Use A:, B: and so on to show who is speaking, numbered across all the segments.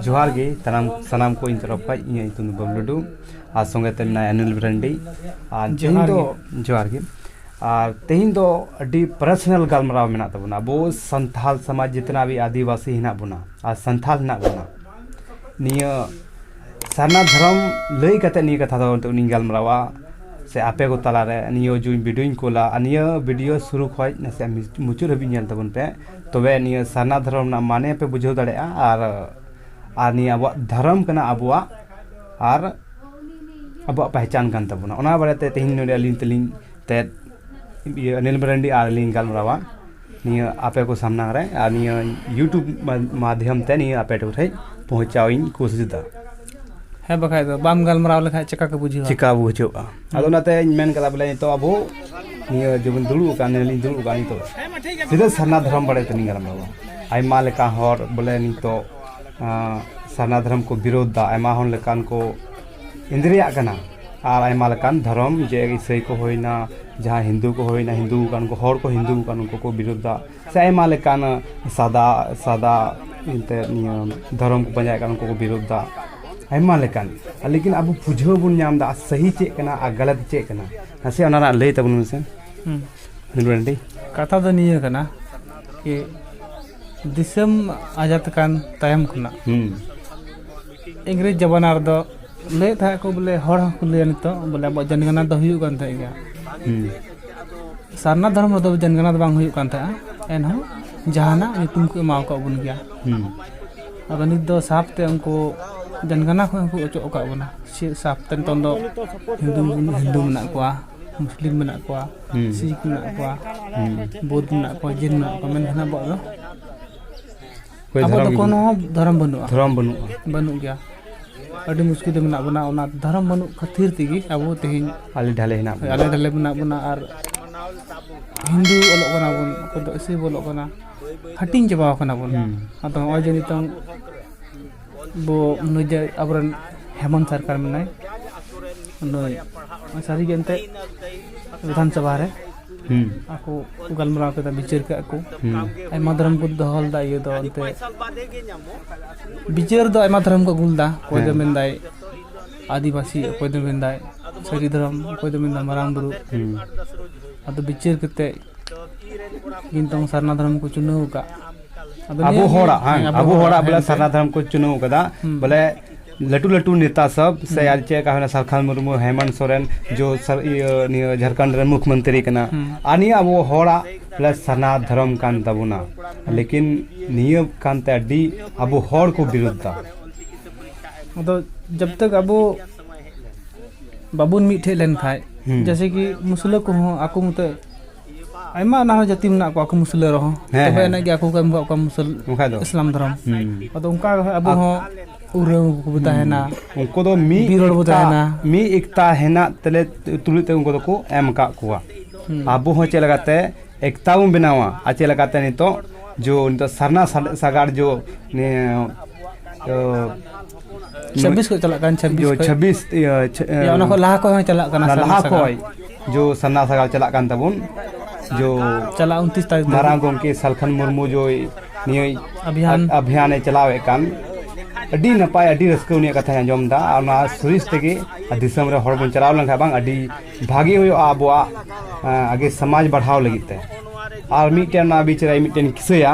A: ᱡᱚᱦᱟᱨ ᱜᱮ ᱥᱟᱱᱟᱢ ᱥᱟᱱᱟᱢ ᱠᱚ ᱤᱧ ᱛᱚᱨᱚᱯ ᱠᱷᱚᱡ ᱤᱧᱟᱹᱜ ᱧᱩᱛᱩᱢ ᱫᱚ ᱵᱟᱵᱞᱩ ᱴᱩᱰᱩ ᱟᱨ ᱥᱚᱸᱜᱮ ᱛᱮ ᱢᱮᱱᱟᱭᱟ ᱚᱱᱤᱞ ᱢᱟᱨᱟᱱᱰᱤ ᱟᱨ ᱛᱮᱦᱮᱧ ᱫᱚ ᱡᱚᱦᱟᱨ ᱜᱮ ᱟᱨ ᱛᱮᱦᱮᱧ ᱫᱚ ᱟᱹᱰᱤ ᱯᱟᱨᱥᱚᱱᱟᱞ ᱜᱟᱞᱢᱟᱨᱟᱣ ᱢᱮᱱᱟᱜ ᱛᱟᱵᱚᱱᱟ ᱟᱵᱚ ᱥᱟᱱᱛᱟᱞ ᱥᱚᱢᱟᱡᱽ ᱡᱤᱛᱱᱟ ᱵᱷᱤ ᱟᱹᱫᱤᱵᱟᱹᱥᱤ ᱦᱮᱱᱟᱜ ᱵᱚᱱᱟ ᱟᱨ ᱥᱟᱱᱛᱟᱞ ᱦᱮᱱᱟᱜ ᱵᱚᱱᱟ ᱱᱤᱭᱟᱹ ᱥᱟᱨᱱᱟ ᱫᱷᱚᱨᱚᱢ ᱞᱟᱹᱭ ᱠᱟᱛᱮ ᱱᱤᱭᱟᱹ ᱠᱟᱛᱷᱟ ᱫᱚ ᱱᱤᱛᱚᱜ ᱤᱧ ᱜᱟᱞᱢᱟᱨᱟᱣᱟ ᱥᱮ ᱟᱯᱮ ᱠᱚ ᱛᱟᱞᱟ ᱨᱮ ᱱᱤᱭᱟᱹ ᱡᱩᱫᱤ ᱵᱷᱤᱰᱤᱭᱳᱧ ᱠᱩᱞᱟ ᱟᱨ ᱱᱤᱭᱟᱹ ᱵᱷᱤᱰᱤᱭᱳ ᱥᱩᱨᱩ ᱠᱷᱚᱡ ᱱᱟᱥᱮᱭᱟᱜ ᱢᱩᱪᱟᱹᱫ ᱦᱟᱹᱵᱤᱡ ᱧᱮᱞ ᱛᱟᱵᱚᱱ ᱯᱮ ᱛᱚᱵᱮ ᱱᱤᱭᱟᱹ ᱥᱟᱨᱱᱟ ᱫᱷᱚᱨᱚᱢ ᱨᱮᱱᱟᱜ ᱢᱟᱱᱮ ᱯᱮ ᱵᱩᱡᱷᱟᱹᱣ ᱫᱟᱲᱮᱭᱟᱜᱼᱟ ᱟᱨ ᱟᱨ ᱱᱤᱭᱟᱹ ᱟᱵᱚᱣᱟᱜ ᱫᱷᱚᱨᱚᱢ ᱠᱟᱱᱟ ᱟᱵᱚᱣᱟᱜ ᱟᱨ ᱟᱵᱚᱣᱟᱜ ᱯᱮᱦᱪᱟᱱ ᱠᱟᱱ ᱛᱟᱵᱚᱱᱟ ᱚᱱᱟ ᱵᱟᱨᱮ ᱛᱮ ᱛᱮᱦᱮᱧ ᱱᱚᱰᱮ ᱟᱹᱞᱤᱧ ᱛᱮᱞᱤᱧ ᱛᱮᱫ ᱤᱭᱟᱹ ᱚᱱᱤᱞ ᱢᱟᱨᱟᱱᱰᱤ ᱟᱨ ᱟᱹᱞᱤᱧ ᱜᱟᱞᱢᱟᱨᱟᱣᱟ ᱱᱤᱭᱟᱹ ᱟᱯᱮ ᱠᱚ ᱥᱟᱢᱱᱟ ᱨᱮ ᱟᱨ ᱱᱤᱭᱟᱹ ᱤᱭᱩᱴᱩᱵᱽ ᱢᱟᱫᱽᱫᱷᱚᱢ ᱛᱮ ᱱᱤᱭᱟᱹ ᱟᱯᱮ ᱠᱚᱴᱷᱮᱱ ᱯᱳᱣᱪᱷᱟᱣ ᱤᱧ ᱠᱳᱥᱤᱥ ᱮᱫᱟ ᱦᱮᱸ ᱵᱟᱠᱷᱟᱡ
B: ᱫᱚ ᱵᱟᱢ ᱜᱟᱞᱢᱟᱨᱟᱣ ᱞᱮᱠᱷᱟᱡ ᱪᱮᱠᱟ ᱠᱚ ᱵᱩᱡᱷᱟᱹᱣᱟ ᱪᱮᱠᱟ ᱵᱩᱡᱷᱟᱹᱜᱼᱟ
A: ᱟᱫᱚ ᱚᱱᱟᱛᱮᱧ ᱢᱮᱱ ᱠᱟᱫᱟ ᱵᱚᱞᱮ ᱱᱤᱛᱚᱜ ᱟᱵᱚ ᱱᱤᱭᱟᱹ ᱡᱮᱵᱚᱱ ᱫᱩᱲᱩᱵ ᱟᱠᱟᱱ ᱱᱤᱭᱟᱹᱞᱤᱧ ᱫᱩᱲᱩᱵ ᱟᱠᱟᱱ ᱱᱤᱛᱚᱜ ᱥᱤᱫᱷᱟᱹ ᱥᱟᱨᱱᱟ ᱫᱷᱚᱨᱚᱢ ᱵᱟᱨᱮ ᱛᱮᱞᱤᱧ ᱜᱟᱞᱢᱟᱨᱟᱣᱟ ᱟᱭᱢᱟ ᱞᱮᱠᱟ ᱦᱚᱲ ᱵᱚᱞᱮ ᱱᱤᱛᱚᱜ ᱥᱟᱨᱱᱟ ᱫᱷᱚᱨᱚᱢ ᱠᱚ ᱵᱤᱨᱳᱫᱷ ᱫᱟ ᱟᱭᱢᱟ ᱦᱚᱲ ᱞᱮᱠᱟᱱ ᱠᱚ ᱤᱸᱫᱽᱨᱟᱹᱭᱟᱜ ᱠᱟᱱᱟ ᱟᱨ ᱟᱭᱢᱟ ᱞᱮᱠᱟᱱ ᱫᱷᱚᱨᱚᱢ ᱡᱮ ᱤᱥᱟᱹᱭ ᱠᱚ ᱦᱩᱭᱱᱟ ᱡᱟᱦᱟᱸᱭ ᱦᱤᱱᱫᱩ ᱠᱚ ᱦᱩᱭᱱᱟ ᱦᱤᱱᱫᱩ ᱟᱠᱟᱱ ᱠᱚ ᱦᱚᱲ ᱠᱚ ᱦᱤᱱᱫᱩ ᱟᱠᱟᱱ ᱩᱱᱠᱩ ᱠᱚ ᱵᱤᱨᱳᱫᱷ ᱫᱟ ᱥᱮ ᱟᱭᱢᱟ ᱞᱮᱠᱟᱱ ᱥᱟᱫᱟ ᱥᱟᱫᱟ ᱮᱱᱛᱮᱫ ᱱᱤᱭᱟᱹ ᱫᱷᱚᱨᱚᱢ ᱠᱚ ᱯᱟᱸᱡᱟᱭᱮᱫ ᱠᱟᱱ ᱩᱱᱠᱩ ᱠᱚ ᱵᱤᱨᱳᱫᱷ ᱮᱫᱟ ᱟᱭᱢᱟ ᱞᱮᱠᱟᱱ ᱞᱮᱠᱤᱱ ᱟᱵᱚ ᱵᱩᱡᱷᱟᱹᱣ ᱵᱚᱱ ᱧᱟᱢ ᱮᱫᱟ ᱥᱟᱹᱦᱤ ᱪᱮᱫ ᱠᱟᱱᱟ ᱟᱨ ᱜᱟᱞᱟᱛ ᱪᱮᱫ ᱠᱟᱱᱟ ᱱᱟᱥᱮ ᱚᱱᱟ ᱨᱮᱱᱟᱜ ᱞᱟᱹᱭ ᱛᱟᱵᱚᱱ ᱢᱮᱥᱮ ᱨᱮᱰᱤ ᱠᱟᱛᱷᱟ ᱫᱚ
B: ᱱᱤᱭᱟᱹ ᱠᱟᱱᱟ ᱠᱤ ᱫᱤᱥᱚᱢ ᱟᱡᱟᱫ ᱠᱟᱱ ᱛᱟᱭᱚᱢ ᱠᱷᱚᱱᱟᱜ ᱤᱝᱨᱮᱡᱽ ᱡᱟᱵᱟᱱᱟ ᱨᱮᱫᱚ ᱞᱟᱹᱭᱮᱫ ᱛᱟᱦᱮᱸᱫ ᱠᱚ ᱵᱚᱞᱮ ᱦᱚᱲ ᱦᱚᱸᱠᱚ ᱞᱟᱹᱭᱟ ᱱᱤᱛᱚᱜ ᱵᱚᱞᱮ ᱟᱵᱚᱣᱟᱜ ᱡᱟᱱᱤᱜᱟᱱᱟ ᱫᱚ ᱦᱩᱭᱩᱜ ᱠᱟᱱ ᱛᱟᱦᱮᱸᱫ ᱜᱮᱭᱟ ᱥᱟᱨᱱᱟ ᱫᱷᱚᱨᱚᱢ ᱨᱮᱫᱚ ᱡᱟᱱᱜᱟᱱᱟ ᱫᱚ ᱵᱟᱝ ᱦᱩᱭᱩᱜ ᱠᱟᱱ ᱛᱟᱦᱮᱸᱜᱼᱟ ᱮᱱᱦᱚᱸ ᱡᱟᱦᱟᱱᱟᱜ ᱧᱩᱛᱩᱢ ᱠᱚ ᱮᱢᱟᱣ ᱠᱟᱜ ᱵᱚᱱ ᱜᱮᱭᱟ ᱟᱫᱚ ᱱᱤᱛ ᱫᱚ ᱥᱟᱯ ᱛᱮ ᱩᱱᱠᱩ ᱡᱟᱱᱜᱟᱱᱟ ᱠᱷᱚᱱ ᱦᱚᱸᱠᱚ ᱚᱪᱚᱜ ᱟᱠᱟᱫ ᱵᱚᱱᱟ ᱥᱮ ᱥᱟᱯ ᱛᱮ ᱱᱤᱛᱚᱝ ᱫᱚ ᱦᱤᱱᱫᱩ ᱦᱤᱱᱫᱩ ᱢᱮᱱᱟᱜ ᱠᱚᱣᱟ ᱢᱩᱥᱞᱤᱢ ᱢᱮᱱᱟᱜ ᱠᱚᱣᱟ ᱥᱤᱠᱷ ᱢᱮᱱᱟᱜ ᱠᱚᱣᱟ ᱵᱳᱫᱷ ᱢᱮᱱᱟᱜ ᱠᱚᱣᱟ ᱡᱮᱱ ᱢᱮᱱᱟᱜ ᱠᱚᱣᱟ ᱢᱮᱱᱠᱷᱟᱱ ᱟᱵᱚᱣᱟᱜ ᱫᱚ ᱚᱠᱚᱭ ᱟᱵᱚ ᱫᱚ ᱫᱷᱚᱨᱚᱢ ᱠᱳᱱᱳ ᱫᱷᱚᱨᱚᱢ ᱵᱟᱹᱱᱩᱜᱼᱟ ᱫᱷᱚᱨᱚᱢ ᱵᱟᱹᱱᱩᱜᱼᱟ ᱵᱟᱹᱱᱩᱜ ᱜᱮᱭᱟ ᱟᱹᱰᱤ ᱢᱩᱥᱠᱤᱞ ᱨᱮ ᱢᱮᱱᱟᱜ ᱵᱚᱱᱟ ᱚᱱᱟ ᱫᱷᱚᱨᱚᱢ ᱵᱟᱹᱱᱩᱜ ᱠᱷᱟᱹᱛᱤᱨ ᱛᱮᱜᱮ ᱟᱵᱚ ᱛᱮᱦᱮᱧ ᱟᱞᱮ ᱰᱷᱟᱞᱮ ᱦᱮᱱᱟᱜ ᱵᱚᱱᱟ
A: ᱟᱞᱮ ᱰᱷᱟᱞᱮ ᱢᱮᱱᱟᱜ ᱵᱚᱱᱟ
B: ᱟᱨ ᱦᱤᱱᱫᱩ ᱚᱞᱚᱜ ᱠᱟᱱᱟ ᱵᱚᱱ ᱚᱠᱚᱭ ᱫᱚ ᱤᱥᱤ ᱚᱞᱚᱜ ᱠᱟᱱᱟ ᱦᱟᱹᱴᱤᱧ ᱪᱟᱵᱟ ᱟᱠᱟᱱᱟ ᱵᱚᱱ ᱦᱩᱸ᱾ ᱟᱫᱚ ᱱᱚᱜᱼᱚᱭ ᱡᱮ ᱱᱤᱛᱚᱝ ᱵᱚ ᱱᱩᱭ ᱡᱮ ᱟᱵᱚᱨᱮᱱ ᱦᱮᱢᱚᱱᱛ ᱥᱚᱨᱠᱟᱨ ᱢᱮᱱᱟᱭ ᱱᱩᱭ ᱥᱟᱹᱨᱤᱜᱮ ᱮᱱᱛᱮᱫ ᱵᱤᱫᱷᱟᱱᱥᱚᱵᱷᱟ ᱨᱮ ᱟᱠᱚ ᱜᱟᱞᱢᱟᱨᱟᱣ ᱠᱮᱫᱟ ᱵᱤᱪᱟᱹᱨ ᱠᱟᱜ ᱠᱚ ᱟᱭᱢᱟ ᱫᱷᱚᱨᱚᱢ ᱠᱚ ᱫᱚᱦᱚ ᱞᱮᱫᱟ ᱤᱭᱟᱹ ᱫᱚ ᱚᱱᱛᱮ ᱵᱤᱪᱟᱹᱨ ᱫᱚ ᱟᱭᱢᱟ ᱫᱷᱚᱨᱚᱢ ᱠᱚ ᱟᱹᱜᱩ ᱞᱮᱫᱟ ᱚᱠᱚᱭ ᱫᱚ ᱢᱮᱱᱫᱟᱭ ᱟᱹᱫᱤᱵᱟᱹᱥᱤ ᱚᱠᱚᱭ ᱫᱚ ᱢᱮᱱᱫᱟᱭ ᱥᱟᱹᱨᱤ ᱫᱷᱚᱨᱚᱢ ᱚᱠᱚᱭ ᱫᱚ ᱢᱮᱱᱫᱟᱭ ᱢᱟᱨᱟᱝ ᱵᱩᱨᱩ ᱟᱫᱚ ᱵᱤᱪᱟᱹᱨ ᱠᱟᱛᱮᱫ ᱠᱤᱱᱛᱩ ᱥᱟᱨᱱᱟ ᱫᱷᱚᱨᱚᱢ ᱠᱚ ᱪᱩᱱᱟᱹᱣ ᱟᱠᱟᱫ ᱟᱵᱚ
A: ᱦᱚᱲᱟᱜ ᱟᱵᱚ ᱦᱚᱲᱟᱜ ᱵᱚᱞᱮ ᱥᱟᱨᱱᱟ ᱫᱷᱚᱨᱚᱢ ᱠᱚ ᱪᱩᱱᱟᱹᱣ ᱟᱠᱟᱫᱟ ᱵᱚᱞᱮ ᱞᱟᱹᱴᱩ ᱞᱟᱹᱴᱩ ᱱᱮᱛᱟ ᱥᱚᱵ ᱥᱮ ᱟᱨ ᱪᱮᱫ ᱞᱮᱠᱟ ᱦᱩᱭᱱᱟ ᱥᱟᱞᱠᱷᱟᱱ ᱢᱩᱨᱢᱩ ᱦᱮᱢᱚᱱᱛ ᱥᱚᱨᱮᱱ ᱡᱚ ᱥᱟᱨ ᱤᱭᱟᱹ ᱱᱤᱭᱟᱹ ᱡᱷᱟᱲᱠᱷᱚᱸᱰ ᱨᱮᱱ ᱢᱩᱠᱷ ᱢᱚᱱᱛᱨᱤ ᱠᱟᱱᱟ ᱟᱨ ᱱᱤᱭᱟᱹ ᱟᱵᱚ ᱦᱚᱲᱟᱜ ᱵᱚᱞᱮ ᱥᱟᱨᱱᱟ ᱫᱷᱚᱨᱚᱢ ᱠᱟᱱ ᱛᱟᱵᱚᱱᱟ ᱞᱮᱠᱤᱱ ᱱᱤᱭᱟᱹ ᱠᱟᱱᱛᱮ ᱟᱹᱰᱤ ᱟᱵᱚ ᱦᱚᱲ ᱠᱚ ᱵᱤᱨᱩᱫᱽᱫᱷᱟ ᱟᱫᱚ
B: ᱡᱚᱵ ᱛᱚᱠ ᱟᱵᱚ ᱵᱟᱵᱚᱱ ᱢᱤᱫ ᱴᱷᱮᱡ ᱞᱮᱱᱠᱷᱟᱡ ᱡᱮᱭᱥᱮ ᱠᱤ ᱢᱩᱥᱞᱟᱹ ᱠᱚᱦᱚᱸ ᱟᱠᱚ ᱢᱚᱛᱚ ᱟᱭᱢᱟ ᱚᱱᱟ ᱦᱚᱸ ᱡᱟᱹᱛᱤ ᱢᱮᱱᱟᱜ ᱠᱚᱣᱟ ᱠᱚ ᱢᱩᱥᱞᱟᱹ ᱨᱮᱦᱚᱸ ᱦᱮᱸ, ᱛᱚᱵᱮ ᱦᱮᱸ᱾ ᱮᱱᱮᱡ ᱜᱮ ᱟᱠᱚ ᱠᱚ ᱮᱢ ᱠᱟᱜ ᱠᱚᱣᱟ ᱢᱩᱥᱞ ᱵᱟᱠᱷᱟᱡ ᱫᱚ᱾ ᱤᱥᱞᱟᱢ ᱫᱷᱚᱨᱚᱢ ᱦᱩᱸ᱾ ᱟᱫᱚ ᱚᱱᱠᱟ ᱜᱮ ᱦᱟᱸᱜ ᱟᱵᱚ ᱦᱚᱸ ᱩᱨᱟᱹᱣ ᱠᱚᱵᱚ ᱛᱟᱦᱮᱱᱟ ᱩᱱᱠᱩ ᱫᱚ ᱢᱤᱫ
A: ᱵᱤᱨ ᱦᱚᱲ ᱵᱚ ᱮᱠᱛᱟ- ᱛᱟᱦᱮᱱᱟ᱾
B: ᱢᱤᱫ ᱮᱠᱛᱟ
A: ᱦᱮᱱᱟᱜ ᱛᱮᱞᱮ ᱛᱩᱞᱩᱡ ᱛᱮ ᱩᱱᱠᱩ ᱫᱚᱠᱚ ᱮᱢ ᱟᱠᱟᱫ ᱠᱚᱣᱟ ᱟᱵᱚ ᱦᱚᱸ ᱪᱮᱫ ᱞᱮᱠᱟᱛᱮ ᱮᱠᱛᱟ ᱵᱚᱱ ᱵᱮᱱᱟᱣᱟ ᱟᱨ ᱪᱮᱫ ᱞᱮᱠᱟᱛᱮ ᱱᱤᱛᱚᱜ ᱡᱚ ᱱᱤᱛᱚᱜ ᱥᱟᱨᱱᱟ ᱥᱟ- ᱥᱟᱜᱟᱲ ᱡᱚ ᱱᱤᱭᱟᱹ ᱚ,
B: ᱪᱷᱟᱵᱵᱤᱥ ᱠᱷᱚᱡ ᱪᱟᱞᱟᱜ ᱠᱟᱱ ᱪᱷᱟᱵᱵᱤᱥ ᱠᱷᱚᱡ ᱪᱷᱟᱵᱵᱤᱥ
A: ᱤᱭᱟᱹ ᱚᱱᱟ ᱠᱷᱚᱡ
B: ᱞᱟᱦᱟ ᱠᱷᱚᱡ ᱦᱚᱸ ᱪᱟᱞᱟᱜ ᱠᱟᱱᱟ ᱞᱟᱦᱟ ᱠᱷᱚᱡ
A: ᱡᱚ ᱥᱟᱨᱱᱟ ᱥᱟᱜᱟᱲ ᱪᱟᱞᱟᱜ ᱠᱟᱱ ᱛᱟᱵᱚᱱ ᱡᱚ ᱪᱟᱞᱟᱜ ᱩᱱᱛᱤᱥ
B: ᱛᱟᱹᱨᱤᱠᱷ ᱢᱟᱨᱟᱝ ᱜᱚᱢᱠᱮ ᱥᱟᱞᱠᱷᱟᱱ
A: ᱢᱩᱨᱢᱩ ᱡᱚᱭ ᱱᱤᱭᱟᱹ ᱟᱵᱷᱤᱭᱟᱱ ᱟᱵᱷᱤᱭᱟᱱᱮ ᱪᱟᱞᱟᱣᱮᱫ ᱠᱟᱱ ᱟᱹᱰᱤ ᱱᱟᱯᱟᱭ ᱟᱹᱰᱤ ᱨᱟᱹᱥᱠᱟᱹ ᱩᱱᱤᱭᱟᱜ ᱠᱟᱛᱷᱟᱧ ᱟᱸᱡᱚᱢ ᱮᱫᱟ ᱟᱨ ᱚᱱᱟ ᱥᱩᱨᱤᱥ ᱛᱮᱜᱮ ᱫᱤᱥᱚᱢ ᱨᱮ ᱦᱚᱲ ᱵᱚᱱ ᱪᱟᱞᱟᱣ ᱞᱮᱱᱠᱷᱟᱱ ᱵᱟᱝ ᱟᱹᱰᱤ ᱵᱷᱟᱜᱮ ᱦᱩᱭᱩᱜᱼᱟ ᱟᱵᱚᱣᱟᱜ ᱟᱜᱮ ᱥᱚᱢᱟᱡᱽ ᱵᱟᱲᱦᱟᱣ ᱞᱟᱹᱜᱤᱫ ᱛᱮ ᱟᱨ ᱢᱤᱫᱴᱮᱱ ᱚᱱᱟ ᱵᱤᱪ ᱨᱮ ᱢᱤᱫᱴᱮᱱ ᱠᱤᱥᱟᱹᱭᱟ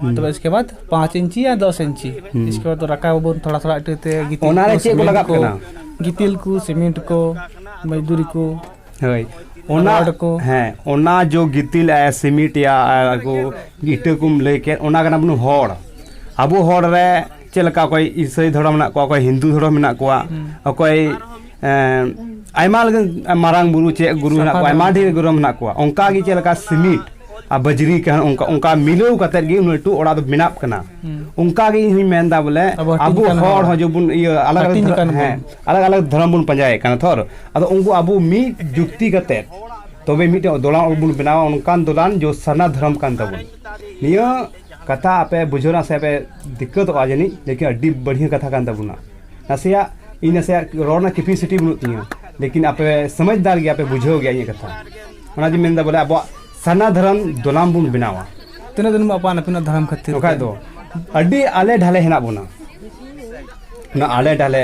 B: ᱦᱩᱸ᱾ ᱛᱚᱵᱮ ᱤᱥᱠᱮ ᱵᱟᱫ ᱯᱟᱸᱪ ᱤᱧᱪᱤ ᱟᱨ ᱫᱚᱥ ᱤᱧᱪᱤ ᱦᱩᱸ᱾ ᱤᱥᱠᱮ ᱵᱟᱫ ᱨᱟᱠᱟᱵ ᱟᱵᱚᱱ ᱛᱷᱚᱲᱟ ᱛᱷᱚᱲᱟ ᱤᱴᱟᱹ ᱛᱮ ᱜᱤᱛᱤᱞ ᱚᱱᱟ ᱨᱮ ᱪᱮᱫ ᱠᱚ ᱥᱤᱢᱮᱱᱴ ᱞᱟᱜᱟᱜ ᱠᱟᱱᱟ? ᱜᱤᱛᱤᱞ ᱠᱚ ᱥᱤᱢᱮᱱᱴ ᱠᱚ ᱢᱚᱡᱫᱩᱨᱤ ᱠᱚ ᱦᱳᱭ
A: ᱚᱱᱟ ᱨᱚᱰ ᱠᱚ᱾ ᱦᱮᱸ
B: ᱚᱱᱟ ᱡᱚ
A: ᱜᱤᱛᱤᱞ ᱟᱭ ᱥᱤᱢᱤᱴ ᱭᱟ ᱟᱨ ᱠᱚ ᱤᱴᱟᱹ ᱠᱚᱢ ᱞᱟᱹᱭ ᱠᱮᱫ ᱚᱱᱟ ᱠᱟᱱᱟ ᱵᱚᱱ ᱦᱚᱲ ᱟᱵᱚ ᱦᱚᱲ ᱨᱮ ᱪᱮᱫ ᱞᱮᱠᱟ ᱚᱠᱚᱭ ᱤᱥᱟᱹᱭ ᱫᱷᱚᱨᱚᱢ ᱢᱮᱱᱟᱜ ᱠᱚᱣᱟ ᱚᱠᱚᱭ ᱦᱤᱱᱫᱩ ᱫᱷᱚᱨᱚᱢ ᱢᱮᱱᱟᱜ ᱠᱚᱣᱟ ᱚᱠᱚᱭ ᱟᱭᱢᱟ ᱞᱮᱠᱟᱱ ᱢᱟᱨᱟᱝ ᱵᱩᱨᱩ ᱪᱮᱫ ᱜᱩᱨᱩ ᱦᱮᱱᱟᱜ ᱠᱚᱣᱟ ᱟᱭᱢᱟ ᱰᱷᱮᱨ ᱜᱩᱨᱩ ᱦᱮᱱᱟᱜ ᱠᱚᱣᱟ ᱚᱱᱠᱟ ᱜᱮ ᱪᱮᱫ ᱞᱮᱠᱟ ᱥᱤᱢᱤᱴ ᱟᱨ ᱵᱟᱡᱽᱨᱤ ᱠᱟᱱ ᱚᱱᱠᱟ ᱚᱱᱠᱟ ᱢᱤᱞᱟᱹᱣ ᱠᱟᱛᱮ ᱜᱮ ᱩᱱᱟᱹᱜ ᱞᱟᱹᱴᱩ ᱚᱲᱟᱜ ᱫᱚ ᱵᱮᱱᱟᱜ ᱠᱟᱱᱟ ᱚᱱᱠᱟ ᱜᱮ ᱤᱧ ᱦᱚᱧ ᱢᱮᱱ ᱮᱫᱟ ᱵᱚᱞᱮ ᱟᱵᱚ ᱦᱚᱲ ᱦᱚᱸ ᱡᱮᱵᱚᱱ ᱤᱭᱟᱹ ᱟᱞᱟᱜᱽ ᱟᱞᱟᱜᱽ ᱦᱮᱸ ᱟᱞᱟᱜᱽ ᱟᱞᱟᱜᱽ ᱫᱷᱚᱨᱚᱢ ᱵᱚᱱ ᱯᱟᱸᱡᱟᱭᱮᱫ ᱠᱟᱱᱟ ᱛᱷᱚᱨ ᱟᱫᱚ ᱩᱱᱠᱩ ᱟᱵᱚ ᱢᱤᱫ ᱡᱩᱠᱛᱤ ᱠᱟᱛᱮ ᱛᱚᱵᱮ ᱢᱤᱫᱴᱮᱱ ᱫᱚᱞᱟᱱ ᱚᱲᱟᱜ ᱵᱚᱱ ᱵᱮᱱᱟᱣᱟ ᱚᱱᱠᱟᱱ ᱫᱚᱞᱟᱱ ᱡᱚ ᱥᱟᱨᱱᱟ ᱫᱷᱚᱨᱚᱢ ᱠᱟᱱ ᱛᱟᱵᱚᱱ ᱱᱤᱭᱟᱹ ᱠᱟᱛᱷᱟ ᱟᱯᱮ ᱵᱩᱡᱷᱟᱹᱣ ᱨᱮᱱᱟᱜ ᱥᱮ ᱯᱮ ᱫᱤᱠᱠᱟᱹᱛᱚᱜᱼᱟ ᱡᱟᱹᱱᱤᱡ ᱞᱮᱠᱤᱱ ᱟᱹᱰᱤ ᱵᱟᱹᱲᱤᱡ ᱠᱟᱛᱷᱟ ᱠᱟᱱ ᱛᱟᱵᱚᱱᱟ ᱱᱟᱥᱮᱭᱟᱜ ᱤᱧ ᱱᱟᱥᱮᱭᱟᱜ ᱨᱚᱲ ᱨᱮᱱᱟᱜ ᱠᱮᱯᱤᱥᱤᱴᱤ ᱵᱟᱹᱱᱩᱜ ᱛᱤᱧᱟᱹ ᱞᱮᱠᱤᱱ ᱟᱯᱮ ᱥᱚᱢᱚᱡᱽᱫᱟᱨ ᱜᱮᱭᱟ ᱯᱮ ᱵᱩᱡᱷᱟᱹᱣ ᱜᱮᱭᱟ ᱤᱧᱟᱹᱜ ᱠᱟᱛᱷᱟ ᱚᱱᱟᱜᱮ ᱢᱮᱱᱫᱟ ᱵᱚᱞᱮ ᱟᱵᱚᱣᱟᱜ ᱥᱟᱨᱱᱟ ᱫᱷᱚᱨᱚᱢ ᱫᱚᱞᱟᱢ ᱵᱚᱱ ᱵᱮᱱᱟᱣᱟ ᱛᱤᱱᱟᱹᱜ ᱫᱤᱱ ᱵᱚᱱ ᱟᱯᱟᱱ
B: ᱟᱹᱯᱤᱱᱚᱜ ᱫᱷᱚᱨᱚᱢ ᱠᱷᱟᱹᱛᱤᱨ ᱵᱟᱠᱷᱟᱡ ᱫᱚ
A: ᱟᱹᱰᱤ ᱟᱞᱮ ᱰᱷᱟᱞᱮ ᱦᱮᱱᱟᱜ ᱵᱚᱱᱟ ᱚᱱᱟ ᱟᱞᱮ ᱰᱷᱟᱞᱮ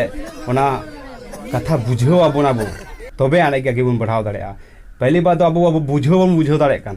A: ᱚᱱᱟ ᱠᱟᱛᱷᱟ ᱵᱩᱡᱷᱟᱹᱣ ᱟᱵᱚᱱ ᱟᱵᱚ ᱛᱚᱵᱮ ᱟᱹᱱᱤᱡ ᱜᱮ ᱟᱜᱮ ᱵᱚᱱ ᱵᱟᱲᱦᱟᱣ ᱫᱟᱲᱮᱭᱟᱜᱼᱟ ᱯᱮᱦᱞᱤ ᱵᱟᱨ ᱫᱚ ᱟᱵᱚ ᱵᱩᱡᱷᱟᱹᱣ ᱵᱟᱵᱚᱱ ᱵᱩᱡᱷᱟᱹᱣ ᱫᱟᱲᱮᱭᱟᱜ ᱠᱟᱱ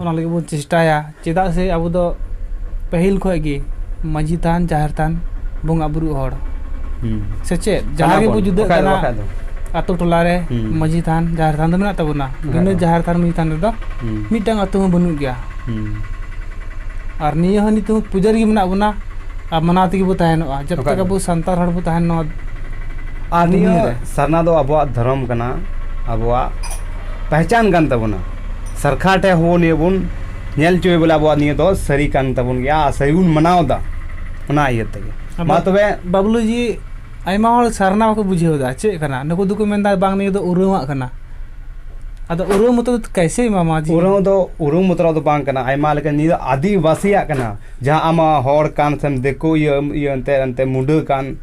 B: ᱚᱱᱟ ᱞᱟᱹᱜᱤᱫ ᱵᱚᱱ ᱪᱮᱥᱴᱟᱭᱟ ᱪᱮᱫᱟᱜ ᱥᱮ ᱟᱵᱚ ᱫᱚ ᱯᱟᱹᱦᱤᱞ ᱠᱷᱚᱱ ᱜᱮ ᱢᱟᱺᱡᱷᱤ ᱛᱷᱟᱱ ᱡᱟᱦᱮᱨ ᱛᱷᱟᱱ ᱵᱚᱸᱜᱟ ᱵᱩᱨᱩ ᱦᱚᱲ ᱥᱮ ᱪᱮᱫ ᱡᱟᱦᱟᱸ ᱜᱮᱵᱚ ᱡᱩᱫᱟᱹᱜ ᱠᱟᱱᱟ ᱟᱛᱳ ᱴᱚᱞᱟ ᱨᱮ ᱢᱟᱺᱡᱷᱤ ᱛᱷᱟᱱ ᱡᱟᱦᱮᱨ ᱛᱷᱟᱱ ᱫᱚ ᱢᱮᱱᱟᱜ ᱛᱟᱵᱚᱱᱟ ᱵᱤᱱᱟᱹ ᱡᱟᱦᱮᱨ ᱛᱷᱟᱱ ᱢᱟᱺᱡᱷᱤ ᱛᱷᱟᱱ ᱨᱮᱫᱚ ᱢᱤᱫᱴᱟᱝ ᱟᱛᱳ ᱦᱚᱸ ᱵᱟᱹᱱᱩᱜ ᱜᱮᱭᱟ ᱟᱨ ᱱᱤᱭᱟᱹ ᱦᱚᱸ ᱱᱤᱛᱚᱜ ᱯᱩᱡᱟᱹ ᱨᱮᱜᱮ ᱢᱮᱱᱟᱜ ᱵᱚᱱᱟ ᱟᱨ ᱢᱟᱱᱟᱣ ᱛᱮᱜᱮ ᱵᱚ ᱛᱟᱦᱮᱱᱚᱜᱼᱟ ᱡᱚᱵ ᱛᱚᱠ ᱟᱵᱚ ᱥᱟᱱᱛᱟᱲ ᱦᱚᱲ ᱵᱚ ᱛᱟᱦᱮᱱ ᱱᱚᱣᱟ ᱟᱨ
A: ᱱᱤᱭᱟᱹ ᱥᱟᱨᱱᱟ ᱫᱚ ᱟᱵᱚᱣᱟᱜ ᱫᱷᱚᱨᱚᱢ ᱠᱟᱱᱟ ᱟᱵᱚᱣᱟᱜ ᱯᱮᱦᱪᱟᱱ ᱠᱟᱱ ᱛᱟᱵᱚᱱᱟ ᱥᱚᱨᱠᱟᱨ ᱴᱷᱮᱱ ᱦᱚᱸ ᱱᱤᱭᱟᱹ ᱵᱚᱱ ᱧᱮᱞ ᱦᱚᱪᱚᱭ ᱵᱚᱞᱮ ᱟᱵᱚᱣᱟᱜ ᱱᱤᱭᱟᱹ ᱫᱚ ᱥᱟᱹᱨᱤ ᱠᱟᱱ ᱛᱟᱵᱚᱱ ᱜᱮᱭᱟ ᱟᱨ ᱥᱟᱹᱨᱤ ᱵᱚᱱ ᱢᱟᱱᱟᱣ ᱮᱫᱟ ᱚᱱᱟ ᱤᱭᱟᱹ ᱛᱮᱜᱮ ᱢᱟ ᱛᱚᱵᱮ ᱵᱟᱵᱞᱩ ᱡᱤ
B: ᱟᱭᱢᱟ ᱦᱚᱲ ᱥᱟᱨᱱᱟ ᱵᱟᱠᱚ ᱵᱩᱡᱷᱟᱹᱣ ᱮᱫᱟ ᱪᱮᱫ ᱠᱟᱱᱟ ᱱᱩᱠᱩ ᱫᱚᱠᱚ ᱢᱮᱱᱫᱟ ᱵᱟᱝ ᱱᱤᱭᱟᱹ ᱫᱚ ᱩᱨᱟᱹᱣᱟᱜ ᱠᱟᱱᱟ ᱟᱫᱚ ᱩᱨᱟᱹᱣ ᱢᱚᱛᱚ ᱠᱟᱭᱥᱮ ᱮᱢᱟᱢᱟ ᱩᱨᱟᱹᱣ ᱫᱚ ᱩᱨᱟᱹᱣ ᱢᱚᱛᱚ
A: ᱫᱚ ᱵᱟᱝ ᱠᱟᱱᱟ ᱟᱭᱢᱟ ᱞᱮᱠᱟ ᱱᱤᱭᱟᱹ ᱫᱚ ᱟᱹᱫᱤᱵᱟᱹᱥᱤᱭᱟᱜ ᱠᱟᱱᱟ ᱡᱟᱦᱟᱸ ᱟᱢᱟᱜ ᱦᱚᱲ ᱠᱟᱱ ᱥᱮᱢ ᱫᱤᱠᱩ ᱤᱭᱟᱹ ᱤᱭᱟᱹ ᱮᱱᱛᱮ ᱮᱱᱛᱮ ᱢᱩᱰᱟᱹ ᱠᱟᱱ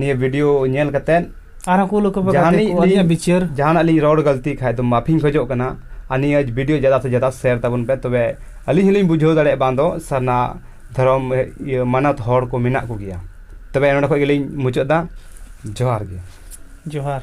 A: ᱱᱤᱭᱟᱹ ᱵᱷᱤᱰᱤᱭᱳ ᱧᱮᱞ ᱠᱟᱛᱮ ᱟᱨᱦᱚᱸ ᱠᱩᱞ ᱟᱠᱚ ᱯᱮ
B: ᱜᱟᱛᱮ ᱠᱚ ᱟᱹᱞᱤᱧᱟᱜ ᱵᱤᱪᱟᱹᱨ ᱡᱟᱦᱟᱱᱟᱜ ᱞᱤᱧ ᱨᱚᱲ ᱜᱟᱹᱞᱛᱤ
A: ᱠᱷᱟᱡ ᱫᱚ ᱢᱟᱯᱷᱤᱧ ᱠᱷᱚᱡᱚᱜ ᱠᱟᱱᱟ ᱟᱨ ᱱᱤᱭᱟᱹ ᱵᱷᱤᱰᱤᱭᱳ ᱡᱟᱫᱟ ᱥᱮ ᱡᱟᱫᱟ ᱥᱮᱭᱟᱨ ᱛᱟᱵᱚᱱ ᱯᱮ ᱛᱚᱵᱮ ᱟᱹᱞᱤᱧ ᱦᱚᱸᱞᱤᱧ ᱵᱩᱡᱷᱟᱹᱣ ᱫᱟᱲᱮᱭᱟᱜᱼᱟ ᱵᱟᱝ ᱫᱚ ᱥᱟᱨᱱᱟ ᱫᱷᱚᱨᱚᱢ ᱤᱭᱟᱹ ᱢᱟᱱᱚᱛ ᱦᱚᱲ ᱠᱚ ᱢᱮᱱᱟᱜ ᱠᱚᱜᱮᱭᱟ ᱛᱚᱵᱮ ᱱᱚᱰᱮ ᱠᱷᱚᱡ ᱜᱮᱞᱤᱧ ᱢᱩᱪᱟᱹᱫ ᱮᱫᱟ ᱡᱚᱦᱟᱨ ᱜᱮ ᱡᱚᱦᱟᱨ